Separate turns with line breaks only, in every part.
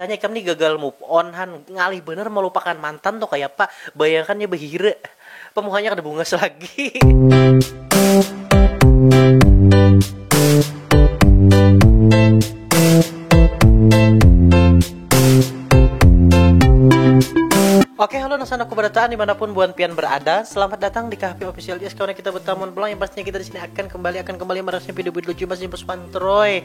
Misalnya ikam nih gagal move on han, ngalih banar malupakan mantan tuh kayapa, bayangkan nya bahira, apa muhanya kada bungas lagi. Oke halo nang sanaku barataan dimanapun buan pian berada Selamat datang di KHP Official Yes kawan kita bertamun pulang yang pastinya kita di sini akan kembali akan kembali merasnya video-video lucu masih pus pantroy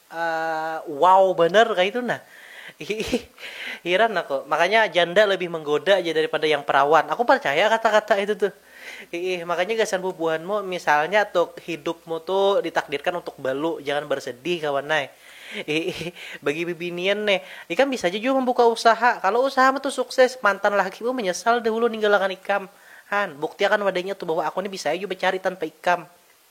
Wow banar kaitu nah. Hiih. Hiran aku. Makanya janda lebih menggoda ja daripada yang perawan. Aku parcaya kata-kata itu tuh. Hiih. Makanya gasan bubuhanmu misalnya tuh hidupmu tuh ditakdirkan untuk balu, jangan bersedih kawan ai. Hiih. Bagi bibinian nih, ikam bisa ja jua membuka usaha. Kalau usahamu tuh sukses, mantan lakimu menyesal dahulu ninggalakan ikam. Han, buktiakan wadanya tuh bahwa aku nih bisa ai jua becari tanpa ikam.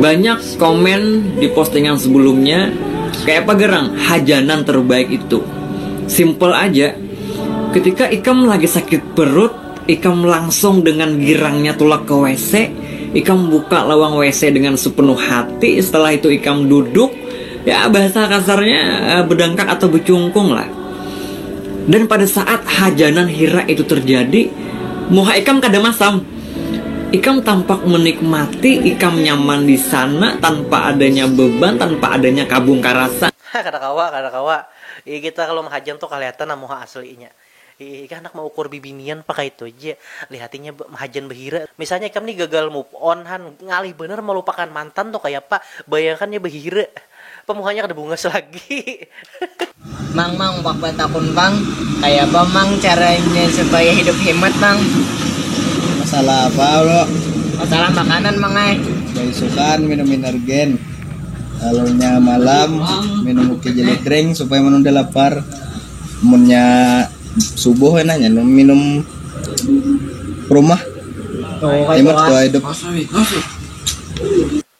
Banyak komen di postingan sebelumnya kayak apa gerang hajanan terbaik itu simple aja ketika ikam lagi sakit perut ikam langsung dengan girangnya tulak ke WC ikam buka lawang WC dengan sepenuh hati setelah itu ikam duduk ya bahasa kasarnya eh, bedangkak atau becungkung lah dan pada saat hajanan hira itu terjadi muha ikam kada masam Ikam tampak menikmati, ikam nyaman di sana tanpa adanya beban, tanpa adanya kabung karasa. Hah kada kawa, kada
kawa. Iih kita kalu mahajam tu kalihatan nah muha aslinya. Iih ikah handak maukur bibinian pa kaitu ja. Lihat inya mahajan bahira. Misalnya ikam ni gagal move on han, ngalih banar malupakan mantan tu kayapa. Bayangkan inya bahira. Pemuhanya kada bungas lagi.
Mang mang wak batakun pang kaya apa mang caranya supaya hidup himat mang. Masalah
apa bro. Masalah makanan
mang ai. Baisukan minum
inergen lalu nya malam minum uki jelly drink supaya menunda lapar munnya subuh kena nya minum prumah himat suah hidup.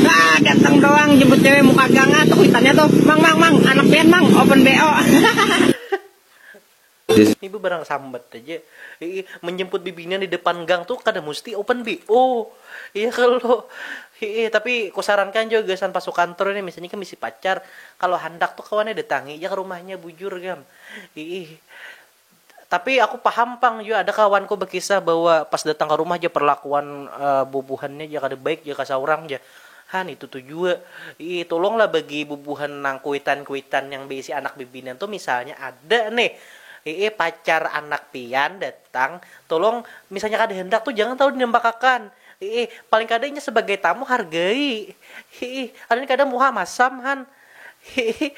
Nah, ganteng doang jemput cewek muka gang ah tuh kuitannya tuh. Mang mang mang, anak pian mang, open BO.
Ibu barang sambat aja. Iih, menjemput bibinian di depan gang tuh kada musti open BO. Iya kalo. Iih, tapi kusarankan jua gasan pas sukantor ini misalnya ikam bisi pacar, kalo handak tuh kawan ai datangi ja ka rumahnya bujur gam. Iih. Tapi aku paham pang jua ada kawanku bekisah bahwa pas datang ka rumah ja perlakuan bubuhannya ja kada baik ja ka saurang ja. Ha nitu tu jua. Ih tulung lah bagi bubuhan nang kuitan-kuitan yang beisi anak bibinian tu misalnya ada nih ih pacar anak pian datang tulung misalnya kada handak tu jangan talu dinampakakan ih paling kada inya sebagai tamu hargai ih alin kada muha masam han. Hihi,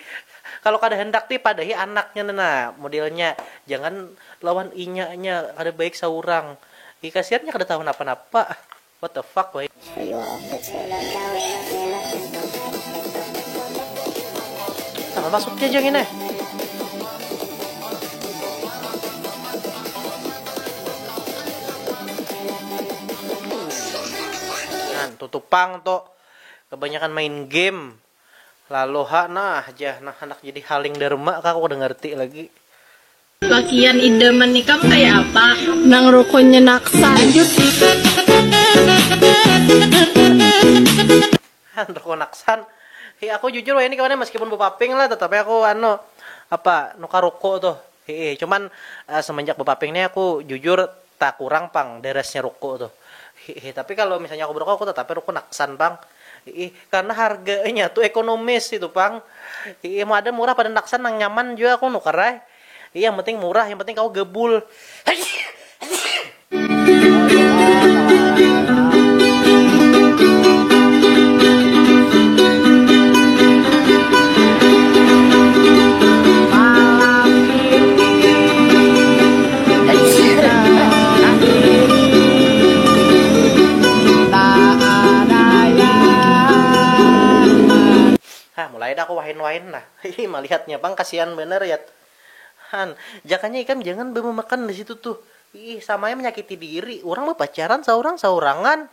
kalo kada handak ti padahi anaknya ne nah modelnya, jangan lawan inyanya, kada baik saurang. Hi kasian inya kada tahu napa-napa. What the fuck wahini. Ayu update sudah kah wena wena. Napa maksudnya ja ngini. Nah tutu pang tu kebanyakan main game. Lalu ha nah jah nang handak jadi haling dharma kah aku kada ngarti lagi. Lakian
idaman ikam kaya apa? Nang rukunnya naksan. Nang
rukun naksan. Hi aku jujur wayah ni kawan ai maskipun bapaping lah tatapi aku anu apa nukar ruku tuh hi ih cuman semenjak bapaping ni aku jujur Takurang pang beresnya ruko tuh. Hiih tapi kalo misalnya aku beroko aku tetap ai ruko naksan pang. Hiih karena harganya tuh ekonomis itu pang. Hiih mau ada murah pada naksan nang nyaman jua aku nukar ai. Hiih yang penting murah yang penting kawa gabul. Hah, mulai dah aku wahin-wahin nah. Hihi, malihatnya pang kasian banar ya. Han, jakanya ikam jangan bamamakan di situ tuh. Hiih, sama ai manyakiti diri, urang bapacaran saurang-saurangan.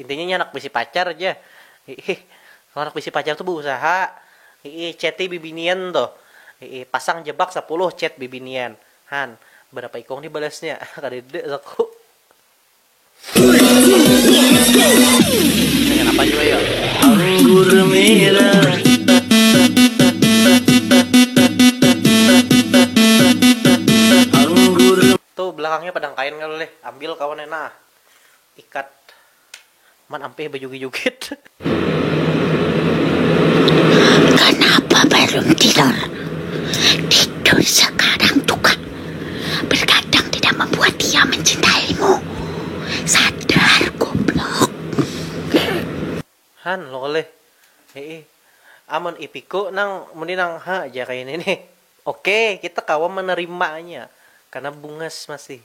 Intinya inya handak bisi pacar ja. Hiih. Kalo handak bisi pacar tu beusaha. Hiih. Chati bibinian tuh. Hiih. Pasang jebak sapuluh chat bibinian. Han. Berapa ikung nih balasnya. Kadada saku. Nya kanapa jua yo. Anggur merah. Anggur. Tu belakangnya padang kain kalo leh. Ambil kawan nya nah. Ikat man ampih bajugit-jugit.
Kanapa balum tidur? Tidur sakarang tu kah? Bergadang tidak membuat ia mencintaimu. Sadar goblok.
Han, loleh. Hii. Amun ipiku nang muni nang ha ja kaya ini nih. Oke, kita kawa menerimanya. Karena bungas masih.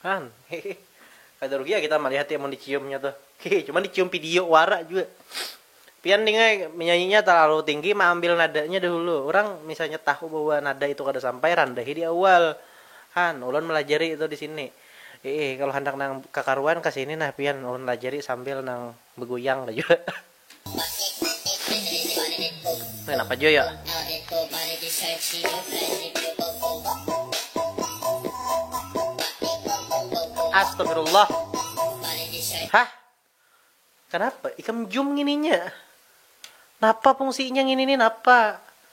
Han, hihi, kada rugi ya kita malihat ya mun diciumnya tuh, hihi, cuman dicium pidio wara jua. Pian ding ai, menyanyinya talalu tinggi maambil nadanya dahulu, urang misalnya tahu bahwa nada itu kada sampai randahi di awal. Han, ulun malajari itu disini. Iih, kalu handak nang kakaruan kasini nah pian, ulun lajari sambil nang baguyang lah jua. Kenapa jo ya? Astagfirullah. Hah? Kenapa? Ikam jum ngininya. Napa fungsinya ngini nih napa?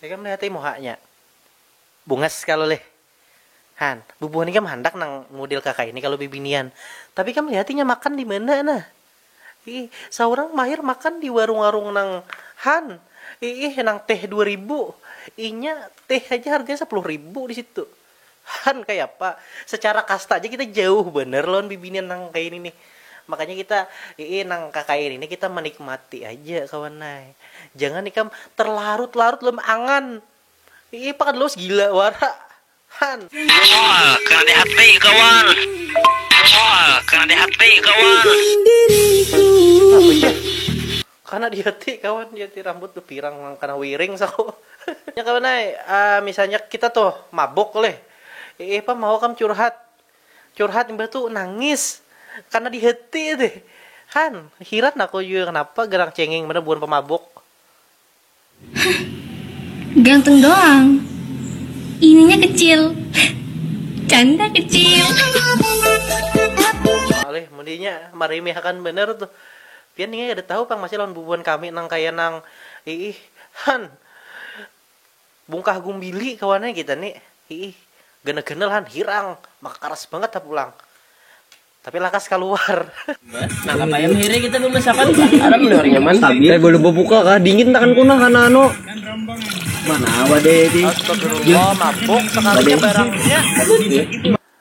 Ikam lihati muhanya. Bungas kalo leh. Han, bubuhan ikam handak nang mudil kakaini kalo bibinian. Tapi ikam lihati inya makan dimana nah. Iih, saurang mahir makan di warung-warung nang han. Iih, nang teh dua ribu. Inya teh haja harganya sapuluh ribu disitu. Han kayapa secara kasta aja kita jauh banar lawan bibinian nang kaya ini nih. Makanya kita iih nang kakaya ini nih kita manikmati aja kawan ai. Jangan ikam terlarut-larut dalam angan. Iih pakan lawas gila wara Han. Mual
kena di hati kawan. Mual kena di hati kawan.
Apa jar. Kana dia ti kawan dia ti rambut tu pirang nang kana wiring saku. Nya kawan ai misalnya kita tuh mabuk lih iih pang mau kam curhat curhat imbah tu nangis kana di hati tih han hiran aku jua kenapa garang cengeng banar buhan pamabuk.
Hah, ganteng doang. Ininya kecil. Canda kecil.
Alih mundinya marimihakan banar tuh. Pian ningai kada tahu pang masih lawan bubuhan kami nang kaya nang iih han bungkah gumbili kawannya kita ni iih ganal-ganal han hirang maka karas bangat ha pulang. Tapi lakas kaluar. Nah, apa
yang hiri kita memasakan? Ada melihat nyaman. Tapi eh, boleh buka
kah? Dingin tangan kuna karena anu. Mana
awak deh di? Astagfirullah, mabuk
sekalinya barangnya.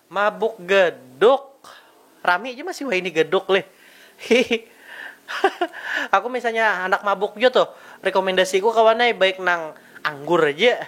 Mabuk geduk. Rami aja masih wah ini geduk leh. Aku misalnya anak mabuk juga tuh, rekomendasiku kawanai baik nang anggur aja.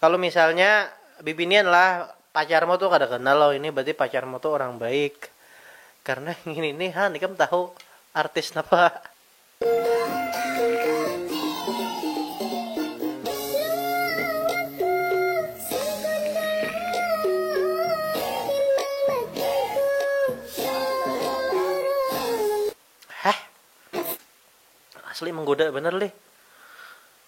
Kalu misalnya bibinian lah pacarmu tu kada ganal lo ini berarti pacarmu tu orang baik karena ngini nih han ikam tahu artis napa. Heh. Asli menggoda banar lih.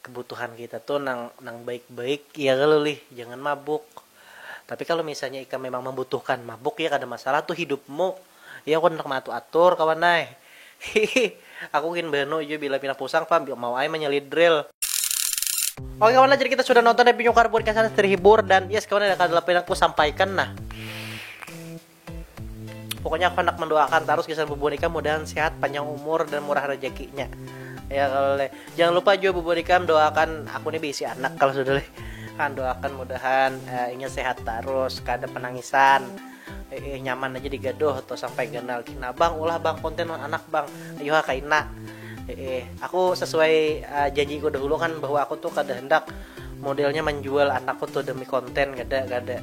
Kebutuhan kita tu nang nang baik-baik ya kalo lih, jangan mabuk. Tapi kalo misalnya ikam memang membutuhkan mabuk ya kada masalah tu hidupmu, ya aku handak maatur-atur kawan ai. Hihih, aku gin banu jua bila pina pusang pang mau ai manyalid drill. Oke kawan lah, jadi kita sudah nonton dari Pinyukar Podcast Anas terhibur dan yes kawan lah kada lagi lagi aku sampaikan nah. pokoknya aku hendak mendoakan terus gasan Bubu Nikam mudahan sehat panjang umur dan murah rezekinya ya kalau leh jangan lupa juga Bubu Nikam doakan aku nih bisi anak kalau sudah leh kan doakan mudahan uh, inya sehat terus kada penangisan eh, eh, nyaman aja digaduh atau sampai ganal kina bang ulah bang konten anak bang ayo ha kaina eh, eh, aku sesuai uh, eh, janjiku dahulu kan bahwa aku tuh kada hendak modelnya menjual anakku tuh demi konten kada kada